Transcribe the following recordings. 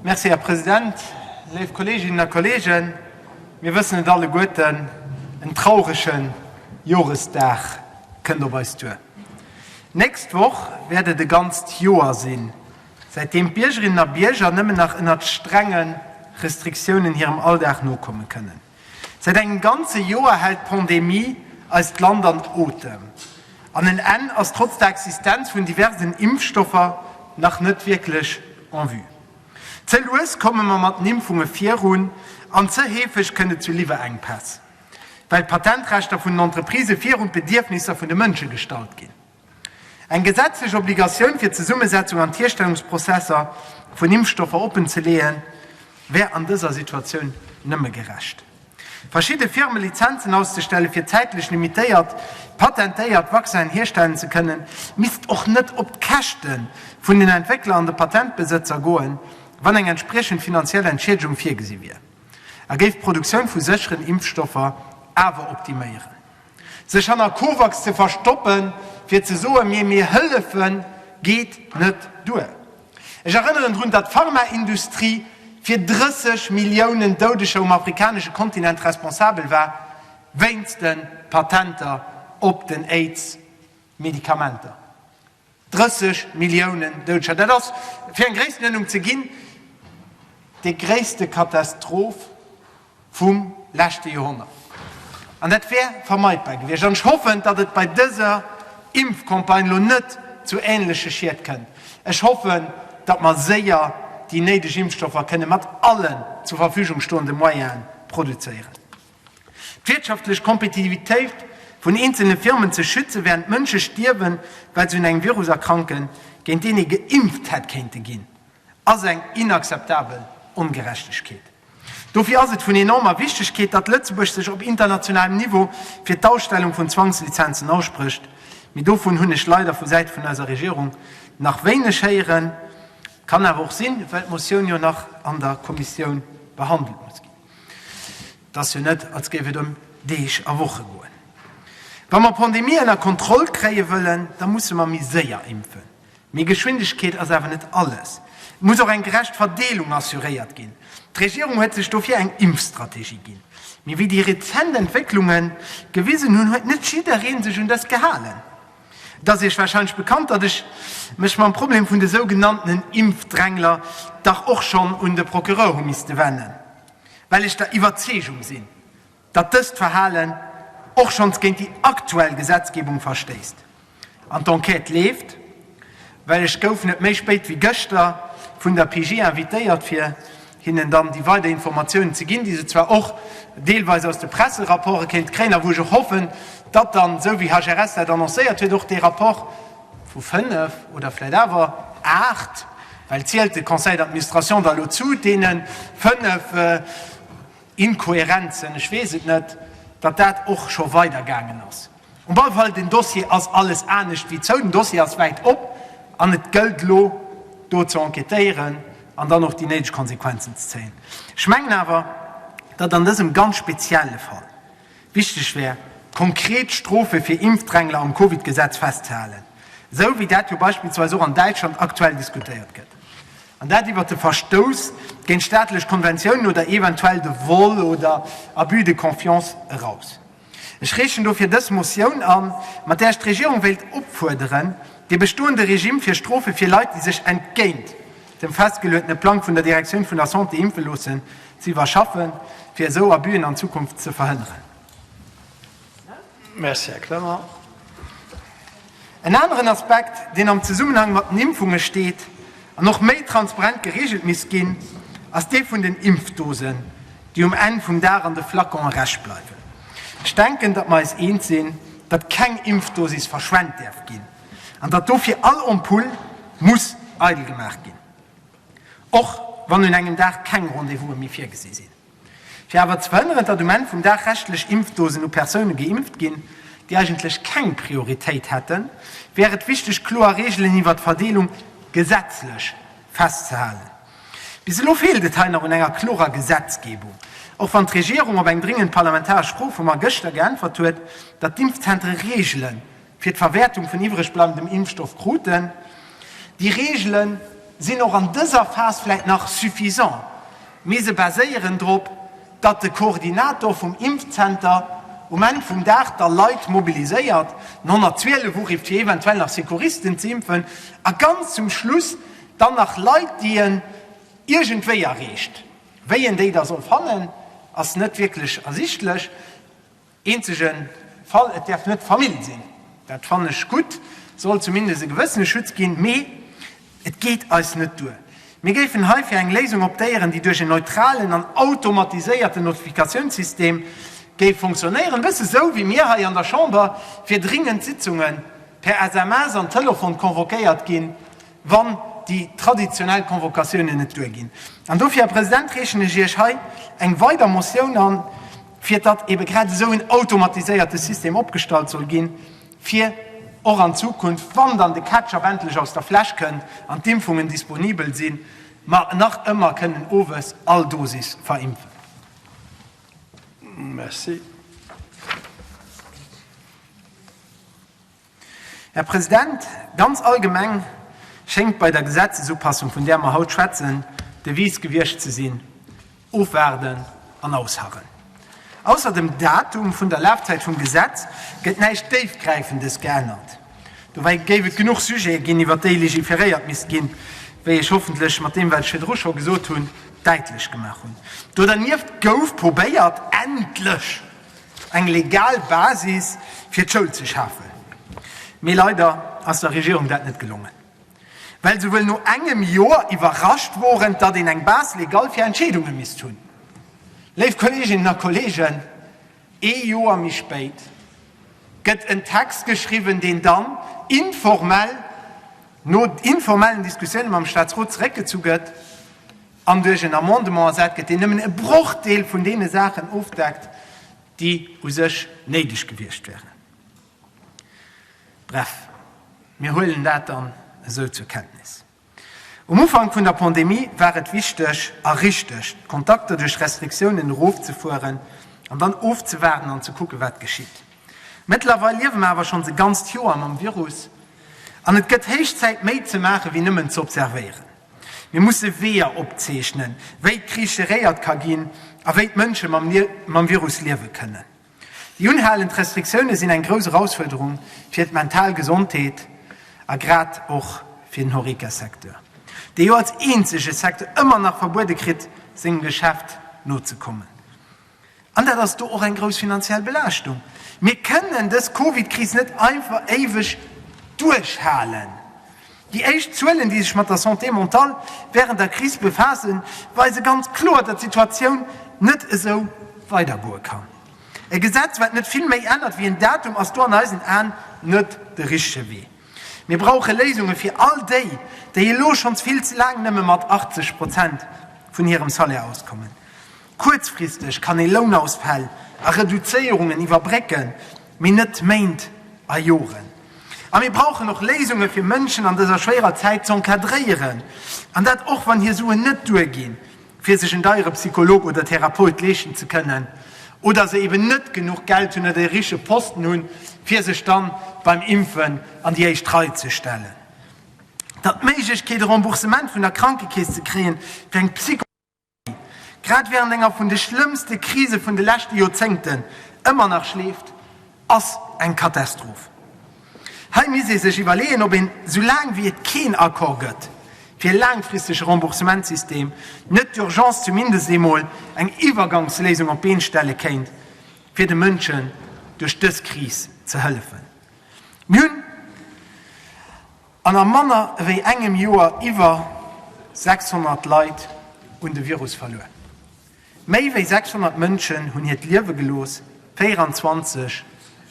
Merci, Här President. Léif Kolleeginnen a Kolleegen, mir wëssen et alleguerten, En traurege Joresdag kënnt op eis duer. D'nächst Woch wäert et e ganzt Joer sinn, säitdeem d'Biergerinnen a Bierger nëmmen nach ënnert strengen Restriktiounen hirem Alldag nokomme kënnen. Säit engem ganze Joer hält d'Pandemie eist Land an Otem, an en Enn ass trotz der Existenz vun diversen Impfstoffer nach net wierklech en vue. Ze lues komme mer mat den Impfunge virun, an ze heefeg kënnt et zu Liwwerenkpäss, well d'Patentrechter vun den Entreprisë virun d'Bedierfnisser vun de Mënsche gestallt ginn. Eng gesetzlech Obligatioun fir d'Zesummesetzung an d'Hierstellungsprozesser vun Impfstoffer oppenzeleeën, wär an dëser Situatioun nëmme gerecht. Verschidde Firme Lizenzen auszestellen, fir zäitlech limitéiert patentéiert Vaccinen hierstellen ze kënnen, misst och net op d'Käschte vun den Entwéckler an de Patentbesëtzer goen, wann eng entspriechend finanziell Entschiedegung virgesi wier a géif d'Produktioun vu sécheren Impfstoffer awer optiméieren. Sech hanner COVAX ze verstoppen, fir ze soen, Mir, mir hëllefen, geet net duer. Ech erënneren drun, datt d'Pharmaindustrie fir 30 Milliounen Doudeger um afrikanesche Kontinent responsabel war, wéinst de Patenter op den Aids-Medikamenter. 30 Milliounen Doudescher, dat ass, fir eng Gréisstenënnung ze ginn, déi gréisste Katastroph vum leschte Joerhonnert. An dat wär vermeidbar gewiescht. An ech hoffen, datt et bei dëser Impfcampagne elo net zu änleche Schied kënnt. Ech hoffen, datt mer séier déi néideg Impfstoffer kënne mat allen zur Verfügung stoende Moyene produzéieren. D'wirtschaftlech Kompetitivitéit vun eenzelne Firmen ze schützen, während Mënsche stierwen, well se un engem Virus erkranken, géint deen ee geimpft hätt kéinte ginn, ass eng inakzeptabel Ongerechtegkeet. Dofir ass et vun enormer Wichtegkeet, datt Lëtzebuerg sech op internationalem Niveau fir d'Ausstellung vun Zwangslizenzen aussprécht, mee dovun hunn ech leider vu Säit vun eiser Regierung nach wéineg héieren. Kann awer och sinn, well d'Motioun jo nach an der Kommissioun behandelt muss ginn. Et ass jo net, als géif et ëm Deeg a Woche goen. Wa mer d'Pandemie ënner Kontroll kréie wëllen, da musse mer méi séier impfen. Mee Geschwindegkeet ass awer net alles. Et muss och eng gerecht Verdeelung assuréiert ginn. D'Regierung huet sech dofir eng Impfstrategie ginn. Mee wéi déi rezent Entwécklungen gewisen hunn, huet net jidderee sech un dës gehalen. Et ass Iech warscheinlech bekannt, datt ech mech mam Problem vun de sougenanntenen Impfdrängler dach och schonn un de Procureur hu misste wennen, well ech der Iwwerzeegung sinn, datt dëst Verhalen och schonns géint déi aktuell Gesetzgebung verstéisst. An d'Enquête leeft, well ech gouf net méi spéit wéi gëschter vun der PJ invitéiert, fir hinnen dann déi weider Informatiounen ze ginn, déi se zwar och deelweis aus de Presserapporte kéinte kréien a wou ech och hoffen, datt dann, esou wéi HRS dat annoncéiert huet, och dee Rapport vu fënnef oder vläicht awer aacht, well zielt de Conseil d'administration da elo zu deene fënnef Inkohärenzen, ech weess et net, datt dat och scho weidergaangen ass. Um alle Fall, den Dossier ass alles anescht wéi zou. Den Dossier ass wäit op an et gëllt elo, do ze enquêtéieren an dann och déi néideg Konsequenzen ze zéien. Ech mengen awer, datt an dësem ganz spezielle Fall wichteg wär, konkret Strofe fir Impfdrängler am Covid-Gesetz festzehalen, esou wéi dat jo beispillsweis och an Däitschland aktuell diskutéiert gëtt, an dat iwwert de Verstouss géint staatlech Konventiounen oder eventuell de Vol oder Abus de confiance eraus. Ech reechen dofir dës Motioun an, mat där ech d'Regierung wéilt opfuerderen, dee bestoende Regime fir Strofe fir Leit, déi sech entgéint dem festgeluetene Plang vun der Direktioun vun der Santé impfe loossen, ze iwwerschaffen, fir esou Abüen an Zukunft ze verhënneren. Merci, Här Clement. En aneren Aspekt, deen am Zesummenhang mat den Impfunge steet an och méi transparent gereegelt misst ginn, ass dee vun den Impfdosen, déi um Enn vum Dag an de Flacon erech bleiwen. Ech denken, datt mer eis eens sinn, datt keng Impfdosis verschwent däerf ginn an datt dofir all Ampull muss eidel gemaach ginn, och wann un engem Dag keng Rendez-vouse méi virgesi sinn. Fir awer ze verhënneren, datt um Enn vum Dag reschtlech Impfdosen u Persoune geimpft ginn, déi eigentlech keng Prioritéit hätten, wär et wichteg, kloer Reegelen iwwert d'Verdeelung gesetzlech festzehalen. Bis elo feelt et hei nach un enger klorer Gesetzgebung, och wann d'Regierung op eng dréngend parlamentaresch Fro vu mer gëschter geäntwert huet, datt d'Impfzentere Reegelen fir d'Verwäertung vun iwwregbleibendem Impfstoff kruten. Déi Reegele sinn och an dëser Phas vläicht nach suffisant, mee se baséieren drop, datt de Koordinator vum Impfzenter um Enn vum Dag da Leit mobiliséiert, den 112 urift, fir eventuell nach Secouristen ze impfen, a ganz zum Schluss dann nach Leit, déi en iergendwéi erreecht. Wéi en déi da soll fannen, ass net wierklech ersichtlech. Eenzege Fall, Et däerf net Famill sinn. Dat fannen ech gutt. Et soll zumindest e gewëssene Schutz ginn. Mee et geet eis net duer. Mir géifen hei fir eng Léisung optéieren, déi duerch en neutralen an automatiséierten Notifikatiounssystem géif funktionéieren, e bësse sou wéi mir hei an der Chamber fir dringend Sitzunge per SMS an Telefon convoquéiert ginn, wann déi traditionell Convocatiounen net duerginn. An dofir, Här President, reechen ech Iech hei eng weider Motioun an, fir datt eebe grad esou en automatiséierte System opgestallt soll ginn, fir och an Zukunft, wann dann de Ketchup endlech aus der Fläsch kënnt an d'Impfungen disponibel sinn, mer nach ëmmer kënnen owes all Dosis verimpfen. Merci. Här President, ganz allgemeng schéngt bei der Gesetzesupassung, vun där mer haut schwätzen, d'Devise gewiescht ze sinn, Ofwaarden an ausharren. Ausser dem Datum vun der Lafzäit vum Gesetz gëtt näischt Déifgräifendes geännert. Dobäi géif et genuch Sujete ginn, iwwert déi legiferéiert misst ginn, wéi ech hoffentlech mat deem, wat ech virdru scho gesot hunn, däitlech gemaach hunn. Do dernieft gouf probéiert, endlech eng legal Basis fir d'Schoul ze schafen. Mee leider ass der Regierung dat net gelongen, well se wuel no engem Joer iwwerrascht woren, datt een eng Base légale fir Entscheedunge misst hunn. Léif Kolleeginnen a Kolleegen, ee Joer méi spéit gëtt en Text geschriwwen, deen dann informell no informellen Diskussioune mam Staatsrot zeréckgezu gëtt, an duerch en Amendement ersat gëtt, deen nëmmen e Brochdeel vun deene Saachen ofdeckt, déi u sech néideg gewiescht wären. Bref, mir huelen dat dann esou zur Kenntnis. Um Ufank vun der Pandemie war et wichteg a richteg, d'Kontakter duerch Restriktiounen erofzefueren an dann ofzewaarden an ze kucken, wat geschitt. Mëttlerweil liewe mer awer schonns e ganzt Joer mam Virus an et gëtt héich Zäit, méi ze maachen, wéi nëmmen z'observéieren. Mir musse Weeër opzeechnen, wéi d'Kris geréiert ka ginn a wéi d'Mënsche mam Virus liewe kënnen. Déi unhalend Restriktioune sinn eng grouss Erausfuerderung fir d'mental Gesondheet a grad och fir den Horeca-Secteur, dee jo als eenzege Secteur ëmmer nach verbuede kritt, sengem Geschäft nozekommen. An dat ass do och eng grouss finanziell Belaaschtung. Mir kënnen dës Covid-Kris net einfach éiweg duerchhalen. Déi éischt Zuelen, déi sech mat der Santé mentale wärend der Kris befaassen, weise ganz kloer, datt d'Situatioun net esou weidergoe kann. E Gesetz, wat net vill méi ännert wéi en Datum, ass do an eisen Aen net de richtege Wee. Mir brauche Léisunge fir all déi, déi elo schonns vill ze laang nëmme mat 80 Prozent vun hirem Salaire auskommen. Kuerzfristeg kann ee Lounausfäll a Reduzéierungen iwwerbrécken, mee net Méint a Joren. A mir brauchen och Léisunge fir Mënschen an dëser schwéierer Zäit z'encadréieren, an dat och wann hir Suen net duerginn, fir sech en deiere Psycholog oder Therapeut leeschten ze kënnen, oder se eben net genuch Geld hunn oder e riche Posten hunn, fir sech dann beim Impfen an déi éischt Rei ze stellen. Datt d'Méiglechkeet e Remboursement vun der Krankekeess ze kréien fir eng grad wärend enger vun de schlëmmste Krise vun de leschte Joerzéngten, ëmmer nach schleeft, ass eng Katastroph. Hei misst ee sech iwwerleeën, ob een, soulaang wéi et keen Accord gëtt fir e laangfristege Remboursementssystem, net d'Urgence zumindest eemol eng Iwwergangsléisung op d'Been stelle kéint, fir de Mënschen duerch dës Kris ze hëllefen. Mir hunn. An a manner ewéi engem Joer iwwer 600 Leit un de Virus verluer. Méi ewéi 600 Mënschen hunn hiert Liewe gelooss, 24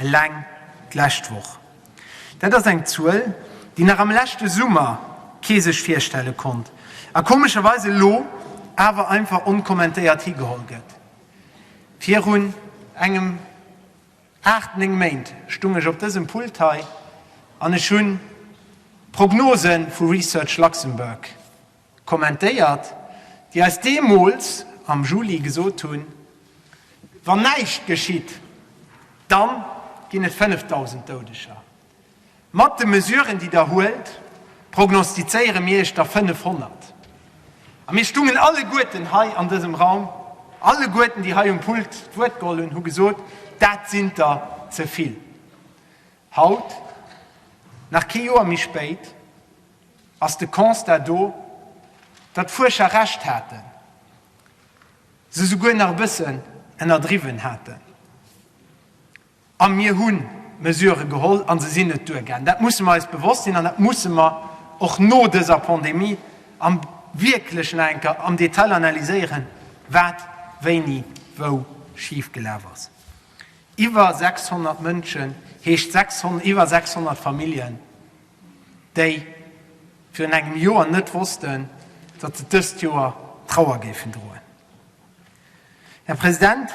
eleng d'lescht Woch. Dat ass eng Zuel, déi nach am leschte Summer kee sech virstelle konnt a komescherweis elo awer einfach onkommentéiert higeholl gëtt virun engem. Haart 9 Méint stung ech op dësem Pult hei an ech hun d'Prognose vu Research Luxembourg kommentéiert, déi eis deemols am Juli gesot hun, Wann näischt geschitt, dann gin et 5.000 Doudeger. Mat de Mesuren, déi Der huelt, prognostizéiere mir Iech der 500. A mir stungen alleguerten hei an dësem Raum, alleguerten, déi hei um Pult d'Wuert geholl hunn, hu gesot, Dat sinn der ze vill. Haut, nach kee Joer méi spéit, ass de Constat do, datt d'Fuerscher Recht haten, se souguer nach e bëssen ënnerdriwwen haten. A mir hu Mesurë geholl a se sinn net duergaangen. Dat musse mer eis bewosst sinn an dat musse mer och no dëser Pandemie am wierklechen enker am Detail analyséieren, wat wéini wou schif gelaf ass. Iwwer 600 Mënschen heescht iwwer 600 Familljen, déi virun engem Joer net wossten, datt se dëst Joer Trauer géifen droen. Här President,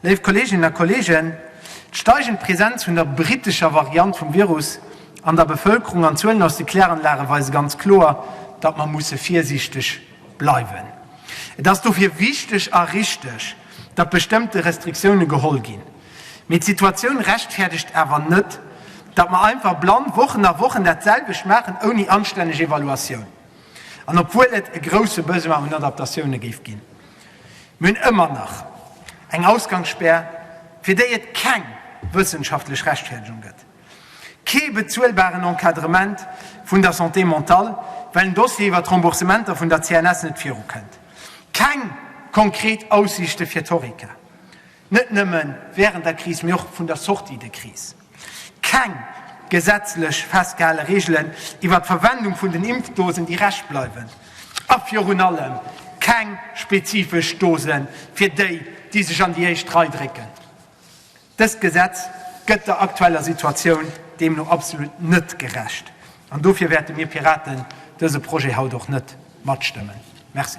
léif Kolleeginnen a Kolleegen, d'steigend Präsenz vun der brittescher Variant vum Virus an der Bevëlkerung an d'Zuelen aus de Kläranlage weise ganz kloer, datt mer musse virsiichteg bleiwen. Et ass dofir wichteg a richtig, datt bestëmmte Restriktioune geholl ginn. Mee d'Situatioun rechtfäerdegt awer net, datt mer einfach blann Wochen a Wochen dat selwecht maachen, ouni anstänneg Evaluatioun an obwuel et e grousse Besoin un Adaptatioune géif ginn. Mir hunn ëmmer nach eng Ausgangsspär, fir déi et keng wëssenschaftlech Rechtfäerdegung gëtt, kee bezuelbaren Encadrement vun der Santé mentale, well den Dossier iwwert d'Remboursementer vun der CNS net virukënnt, keng konkret Aussiichte fir d'Horeca, net nëmme wärend der Kris, mee och vun der Sortie de crise. Keng gesetzlech festgehale Reegelen iwwer d'Verwendung vun den Impfdosen, déi Rescht bleiwen. A virun allem keng spezifesch Dose fir déi, déi sech an déi éischt Rei drécken. Dëst Gesetz gëtt der aktueller Situatioun deemno absolut net gerecht. An dofir wäerte mir Piraten dëse Projet haut och net matstëmmen. Merci.